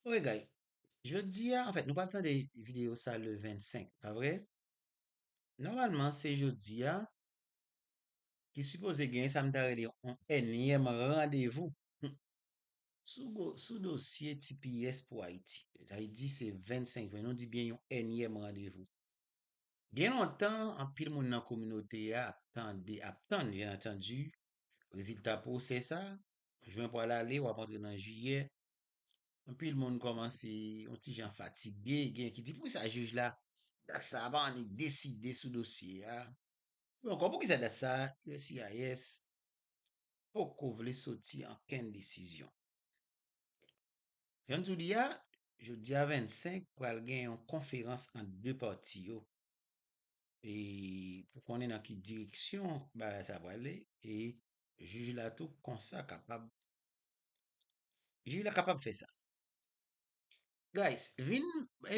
Ok guys, jodi a, anfèt nou pral tande video sa le 25, pa vre? Nòmalman se jodi a ki sipoze gen sa m ta rele yon ènyèm randevou sou dosye tps pou Ayiti. Sa vle di se 25 vre, nou di byen yon ènyèm randevou. Gen lontan anpil moun nan kominote a ap tande, ap tann byen antandu rezilta pwosè sa, Jwen pral ale, wap antre nan jiyè. Anpil moun kòmanse yon ti jan fatige, gen ki di poukisa jij la dat sa a pa annik deside sou dosye a. Yo ankò poukisa dat sa a uscis poko vle soti ankenn desizyon. Jan n tou di a, jodi a 25 pral gen yon konferans ant 2 pati yo. e pou konnen nan ki direksyon bagay sa prale e jij la tou konsa kapab jij la kapab fè sa guys vin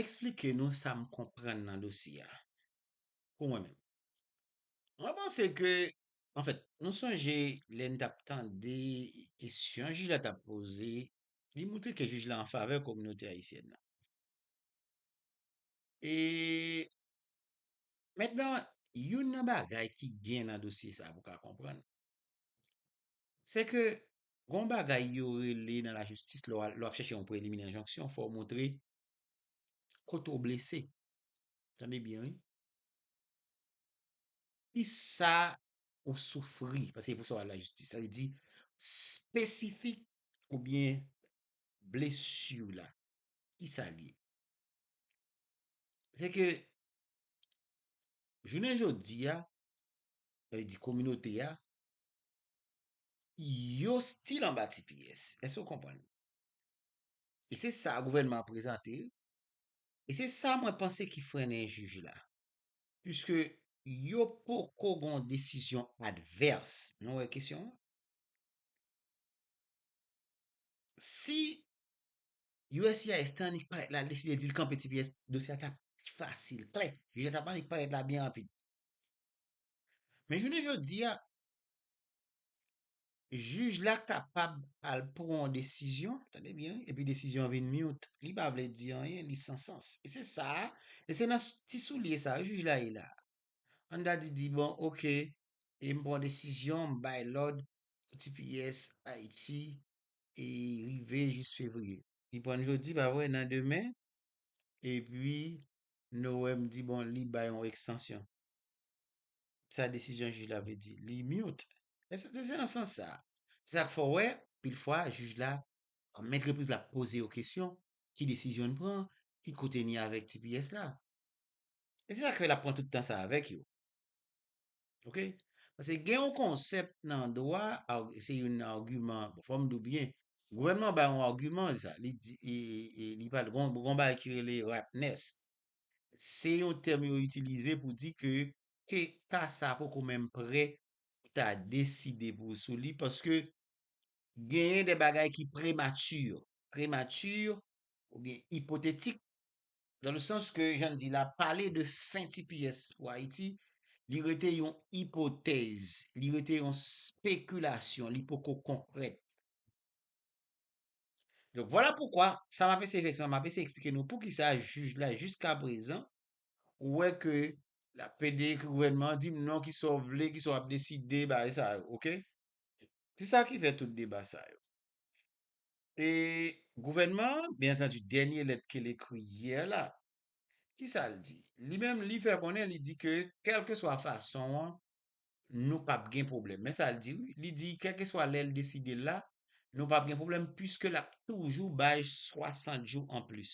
esplike nou sa m konprann nan dosye a pou mwen menm mwen panse ke an fèt nou sonje lè n t ap tande kesyon jij la t ap poze li moutre ke jij la anfavè kominote ayisyèn nan e Mentnan, youn nan bagay ki gen nan dosye sa a pou ka konprann, se ke gon bagay yo rele nan lajistis lè w ap chèche yon preliminè enjonksyon fò w montre kote w blese. Tande byen wi. Kisa ou soufri, paske se pou sa w al lajistis. Sa vle di, spesifik oubyen blesi w la, kisa l ye? Se ke, jounen jodi a, sa vle di kominote a, yo stil anba tps. Èske ou konprann? E se sa gouvènman an prezante, e se sa mwen panse ki frennen jij la. Piske yo poko gen yon desizyon advès. Nou wè kesyon an? Si uscis te annik parèt la li deside dil kanpe tps dosye a tap pi fasil, klè, jij la tap annik parèt la byen rapid. Men jounen jodi a, jij la kapab al pran yon desizyon, tande byen wi, epi desizyon an vin myout, li pa vle di anyen, li san sans. E se sa, e se nan ti soulye sa yo jij la ye la. An ta di di bon ok, e m pran desizyon, m bay lòd pou tps Ayiti e rive jis fevriye. Li prann jodi pa vre nan demen epi Noem di bon li bay yon ekstansyon. Sa desizyon jij la vle di? Li mute. Eske se nan sans sa? Se sa k fè w wè pil fwa jij la ak mèt repriz la ap poze yo kesyon, ki desizyon n pran, ki kote n ye avèk tps la? E se sa k fè l ap pran tout tan sa avèk yo. Ok Paske gen yon konsèp nan dwa, se yon agiman, fòm di w byen, gouvènman bay yon agiman sa, li di, li pale, gen yon bagay ki rele ripeness, se yon tèm yo itilize pou di ke ka sa poko menm prè pou ta deside pou sou li paske genyen de bagay ki premature, premature oubyen ipotetik Dans le sens que jan n di la, pale de fen tps pou Ayiti, li rete yon ipotèz, li rete yon spekilasyon, li poko konkrèt. Donk, vwala poukwa, sa m ap eseye fè se m ap eseye eksplike nou poukisa jij la jiskaprezan ou wè ke l ap plede ke gouvènman an di m non ki sa w vle, ki sa w ap deside, bagay sa yo, ok. Se sa ki fè tout deba sa yo. E gouvènman an, byen antandi dènye lèt ke l ekri yè la, ki sa l di? Li menm li fè konnen, li di ke kèlkeswa fason an, nou p ap gen pwoblèm. Men sa l di wi, li di kèlkeswa lè l deside l la, nou p ap gen pwoblèm puiske l ap toujou bay 60 jou anplis.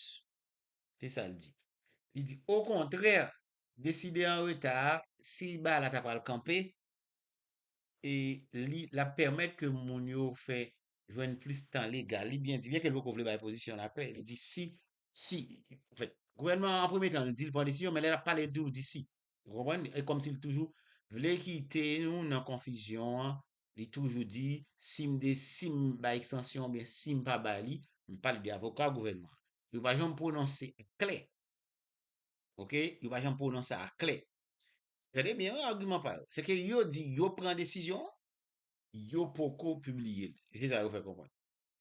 Se sa l di. Li di okontrè, deside an reta a, si bagay la ta pral kanpe, e li, l ap pèmèt ke moun yo fè jwenn plis tan legal, li byen di, byen ke li poko vle bay pozisyon l apre, li di si, si, anfèt, gouvènman an, an premye tan, li di li pran desizyon, men lè l ap pale, li toujou di si. Ou konprann? E kòmsi li toujou vle kite nou nan konfizyon an, li toujou di, si m de, si m bay ekstansyon an oubyen si m pa bay li, m pale de avoka gouvènman an, yo pa janm pwononse aklè, ok, yo pa janm pwononse aklè. Gade byen wi agiman pa yo, se ke yo di yo pran desizyon an, Yo poko pibliye l. Se sa yo fè konprann.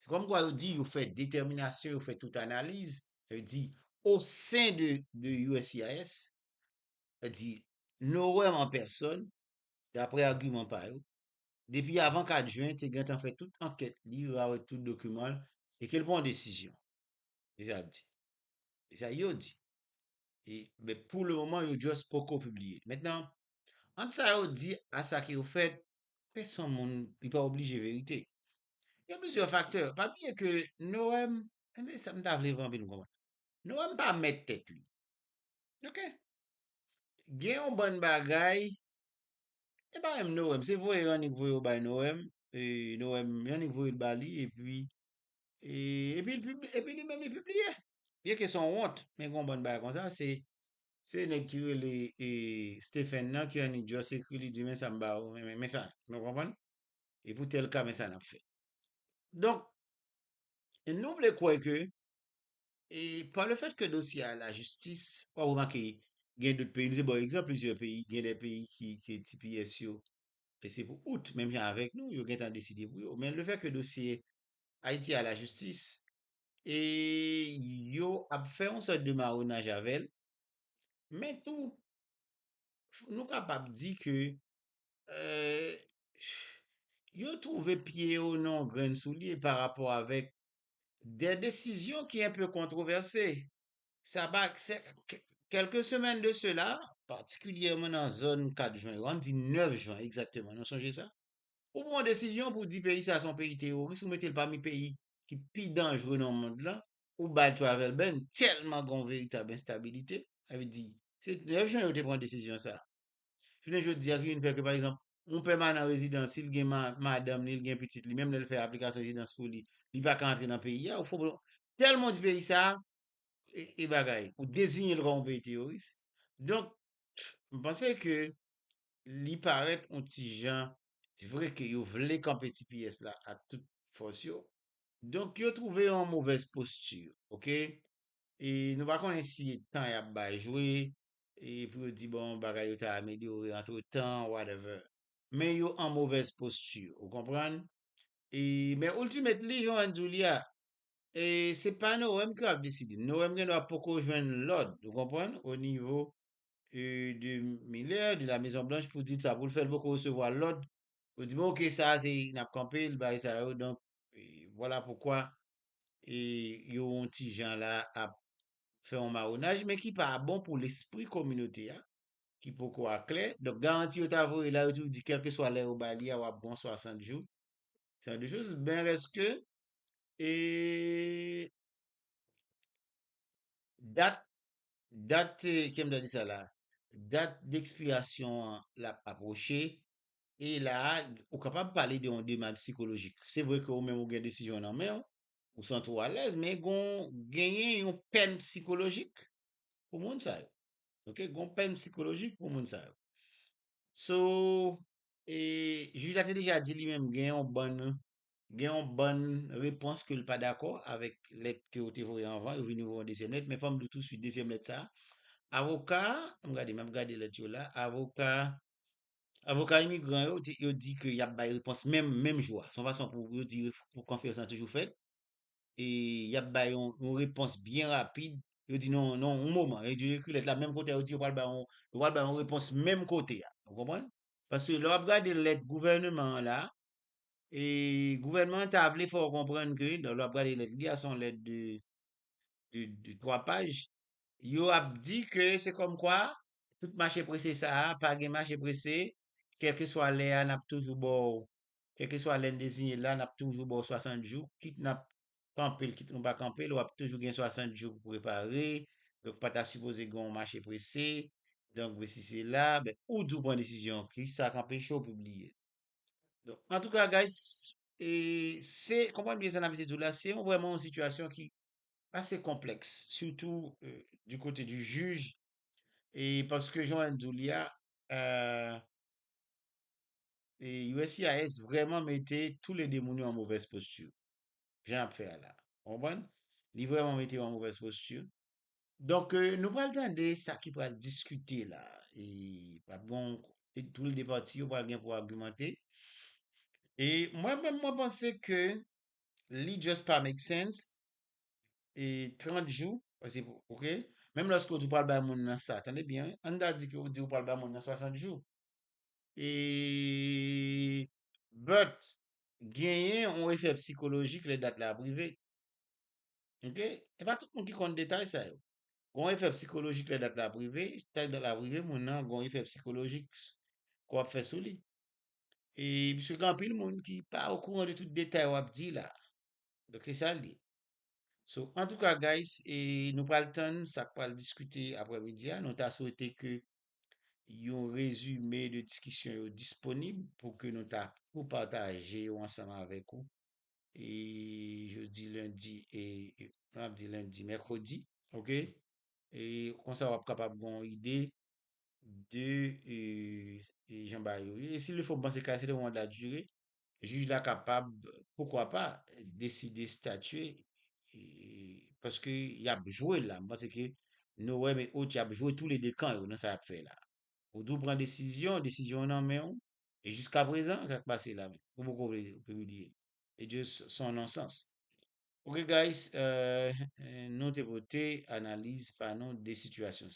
Se kòmkwa yo di yo fè detèminasyon, yo fè tout analiz, sa vle di o sen de uscis, sa di Noem an pèsòn, daprè agiman pa yo, depi avan 4 jen te gentan fè tout ankèt li, rawèt tout dokiman l e ke l pran desizyon. Se sa y ap di. Se sa yo di. E men pou le moman yo just poko pibliye l. Mentnan, ant sa yo di a sa ki yo fèt, Pèsonn moun li pa oblije verite. Gen plizyè faktè. Pa bliye ke Noem, se sa m ta vle anvi nou konprann. Noem pa mèt tèt li. Ok. Gen yon bann bagay, e pa menm Noem, se voye Yannick voye yo bay Noem, e Noem, Yannick voye l ba li epi, epi li menm li pibliye. Byen ke son wont, men gen yon bann bagay konsa, se se nèg ki rele e Stephen nan ki annik just ekri li di men sa m ba ou men men sa nou konprann? E pou tèl ka men sa nap fè. Donk nou vle kwè ke e pa le fèt ke dosye a lajistis, wap remake gen dout peyi, nou te ba w egzanp plizyè peyi, gen de peyi ki ke tps yo e se pou out menm jan avèk nou yo gentan deside pou yo. Men le fèt ke dosye Ayiti a lajistis, e yo ap fè yon sòt de maronaj avè l, men tou nou kapab di ke yo twouve pye yo nan yon grenn soulye pa rapò avèk de desizyon ki enpe kontwovèse. Sa pa kèlke semèn de sela, patikilyèman nan zòn 4 jwen yo, an n di 9 jwen egzakteman, nou sonje sa, ou pran yon desizyon pou di peyi sa a se yon peyi teworis, ou mete l pami peyi ki pi danjre nan mond lan ou bay travel ban tèlman gen yon veritab enstabilite, sa vle di se 9 jan yo te pran desizyon sa. Jounen jodi a ki vin fè ke pa egzanp yon pèmanan rezidan si l gen madanm li, li gen pitit li menm lè l fè aplikasyon rezidans pou li, li pa ka antre nan peyi a ou fè yon tèlman ou di peyi sa e bagay ou dezinye l kòm yon peyi teyoris donk m panse ke li parèt yon ti jan Se vre ke yo vle kanpe tps la ak tout fòs yo. Donk yo twouve yo an movèz posti, ok. E nou pa konnen si e tan y ap bay jwe, e pou yo di bon bagay yo ta amelyore antretan, whatever. Men yo an movèz posti, ou konprann. E men ultimately, jan Juan di w li a, e se pa Noem ki ap deside. Noem gen dwa poko jwenn lòd, ou konprann, onivo de Miller de la Maison Blanche pou di sa pou l fè l poko resevwa lòd pou di bon ok sa a se n ap kanpe l bagay sa yo donk vwala poukwa yo yon ti jan la ap fè yon mawonaj men ki pa bon pou lespri kominote a ki poko aklè donk garanti yo ta voye la yo toujou di kèlkeswa lè yo ba li a w ap bon 60 jou se jan de choz men rès ke e dat Dat, ki m ta di sa la, dat dekspirasyon an l ap apwoche e la a ou kapab pale de yon demach psikolojik. Se vre ke ou menm ou gen desizyon an nan men ou, ou santi w alèz men gon genyen yon pèn psikolojik pou moun sa yo. Ok, gon pèn psikolojik pou moun sa yo. So, e jij la te deja di li menm gen yon bann Gen yon bann repons ke l pa dakò avèk lèt ke ou te voye anvan, yo vini voye yon dezyèm lèt, men fò m di w tousuit dezyèm lèt sa a, avoka, an m gade, m ap gade lèt yo la, avoka, avoka imigran yo, yo di ke y ap bay repons menm, menm jou a, se yon fason pou yo di pou konfirmasyon an toujou fèt, e y ap bay yon repons byen rapid, yo di non, non, yon moman, yo di yo ekri lèt la menm kote a, yo di yo pral bay yon, yo pral bay yon repons menm kote a, ou konprann? Paske lè w ap gade lèt gouvèneman an la, E gouvènman an ta vle fè w konprann ke, lè w ap gade lèt li a, se yon lèt de, de, de twa paj, yo ap di ke se kòmkwa tout mache prese sa a, pa gen mache prese, kèlkeswa lè a n ap toujou ba w, kèlkeswa lè n deziyen l la, n ap toujou ba w 60 jou, kit n ap kanpe l, kit nou pa kanpe l, w ap toujou gen 60 jou pou w prepare, donk pa ta sipoze gen yon mache prese, donk vesi sela, ben ou di w pran desizyon an, kisa k anpeche w pibliye l? Donk, an tou ka guys, e se, konprann byen sa n ap eseye di w la, se yon vrèman yon sitiyasyon ki ase konplèks, sitou di kote di jij, e paske jan w èn di w li a, uscis vrèman mete tou le de moun yo an movèz posti, jan y ap fè a la, konprann, li vrèman mete yo an movèz posti. Donk nou pral tande sa ki pral diskite la e pral gen yon e tou l de pati yo pral gen pou agimante e mwen menm mwen panse ke li just pa make sense e 30 jou paske ok menm lòske ou di ou pral bay moun nan sa tande byen wi ann ta di ke ou di ou pral bay moun nan 60 jou e but genyen yon efè psikolojik lè dat la ap rive. Ok e pa tout moun ki konn detay sa yo gen yon efè psikolojik lè dat la ap rive tank dat la ap rive moun nan gen yon efè psikolojik ke w ap fè sou li e pske gen anpil moun ki pa okouran de tout detay w ap di la donk se sa l ye so antouka guys e nou pral tann sa k pral diskite aprè midi a nou ta swete ke yon rezime de diskisyon yo disponib pou ke nou ta pou pataje yo ansanm avèk ou E jodi lundi e m ap di lundi, mercredi. Ok. E konsa w ap kapab gen yon ide de e jan bagay yo ye. E si le fò m panse ka se te yon manda dire, jij la kapab poukwa pa deside statye e paske y ap jwe la. M panse ke Noem et autres y ap jwe tou le 2 kan yo nan sa y ap fè la. Ou di w pran desizyon, desizyon an nan men w. E jiska prezan sak pase la menm ou poko vle pibliye li e just son non sans. Ok guys nou te pote analiz pa nou de sitiyasyon sa.